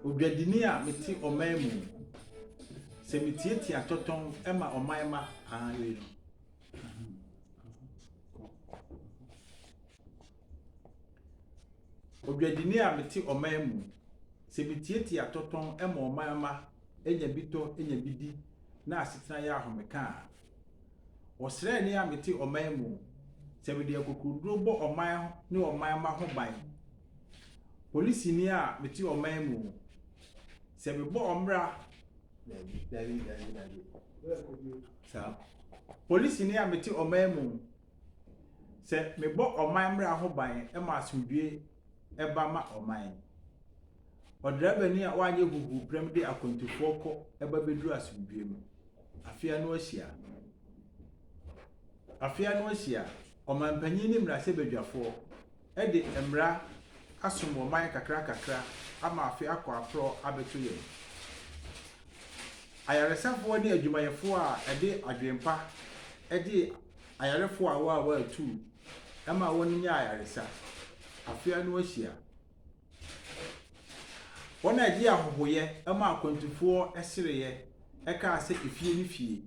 Odwadini a mete ɔman mu Sɛ mitiatia tɔtɔm ma ɔman mma, ah, yei no. Odwadini a mete ɔman mu, sɛ mitiatia atɔtɔn ma ɔman mma nya bi tɔ, nya bi di na asetena yɛ ahomeka a. Ɔsraani a mete ɔman mu, sɛ mede akokoɔduro bɔ ɔman ne ɔman mma ho ban. Polisini a mete ɔman mu, sɛ mebɔ ɔmmra, dabi, dabi, dabi, dabi, saa, polisini a mete ɔman mu, Sɛ mebɔ ɔman mmara ho ban ma asomdwoe ba ma ɔman no, ɔdrabani a wanyɛ huhuuprɛm de akwantufoɔ kɔ ba bɛduru asomdwoe mu. Afe ano ahyia. Afe ano ahyia. Ɔmanpanyin ne mmarasɛbadwafoɔ de mmara asom wɔ man kakrakakra ama afe akɔ aporɔw abɛto yɛn. Ayaresafo ne adwumayɛfo a ɛde adwempa gyee ayarefo awaawaa tuu ma wɔnyaa ayaresa. Afe ano ahyia. Wɔn a ɛde ahɔhoyɛ ma akwantufoɔ sereɛ kaa sɛ efie ne fie.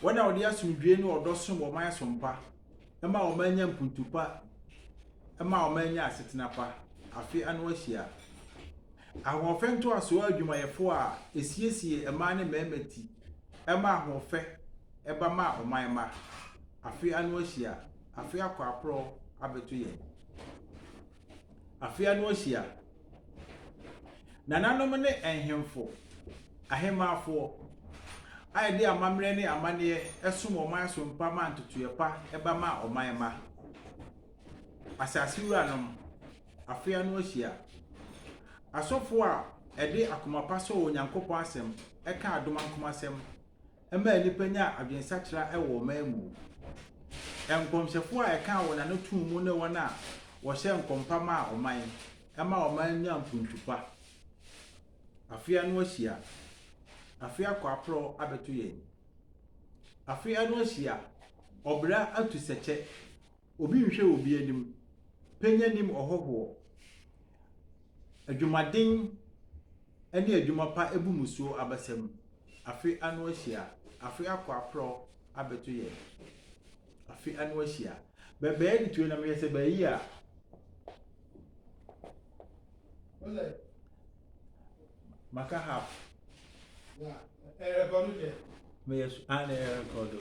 Wɔn a wɔde asomdwoeɛ ne ɔdɔ som wɔn ayɛsompa ma wɔanya mpuntu pa ma wɔanya asetena pa afe ano ahyia. Ahoɔfɛ ntoasoɔ adwumayɛfoɔ a ɛsiesie mmaa ne mmarima ti ma ahoɔfɛ ba ma ɔman mma afe ano ahyia, afe akɔ aporɔ abɛto yɛn. Afe ano ahyia. Nananom ne nhemfo, ahemmafoɔ, a yɛde amammerɛ ne amanneɛ som wɔn aso mpa ma ntotoeɛ pa ba ma ɔman mma. Asase wuranom, afe ano ahyia. Asɔfoɔ a ɛde akoma pa sɔ Onyankopɔn asɛm ka adom ankomasɛm ɛmaa nnipa nyaa adwensakyera wɔ ɔman mu. Nkɔmhyɛfo a ɛkaa wɔn ano too mu ne wɔn a wɔhyɛɛ nkɔm pa maa ɔman, ɛmaa ɔman nyaa mpuntu pa. Afe ano ahyia. Afe akɔ aporɔw abɛto yɛn. Afe ano ahyia. Ɔbra atu sɛ kyɛ. Obi nhwɛ obi anim, pɛnya nim ɔhɔhoɔ, adwumaden ne adwuma pa bu mmusuo abasa mu, afe ano ahyia, afe akɔ aprɔ abɛto yɛn, afe ano ahyia, bɛbɛɛ de tue na mehwɛ sɛ bɛayi a. Maka half. Meyɛ so, ah na ɛrekɔdo.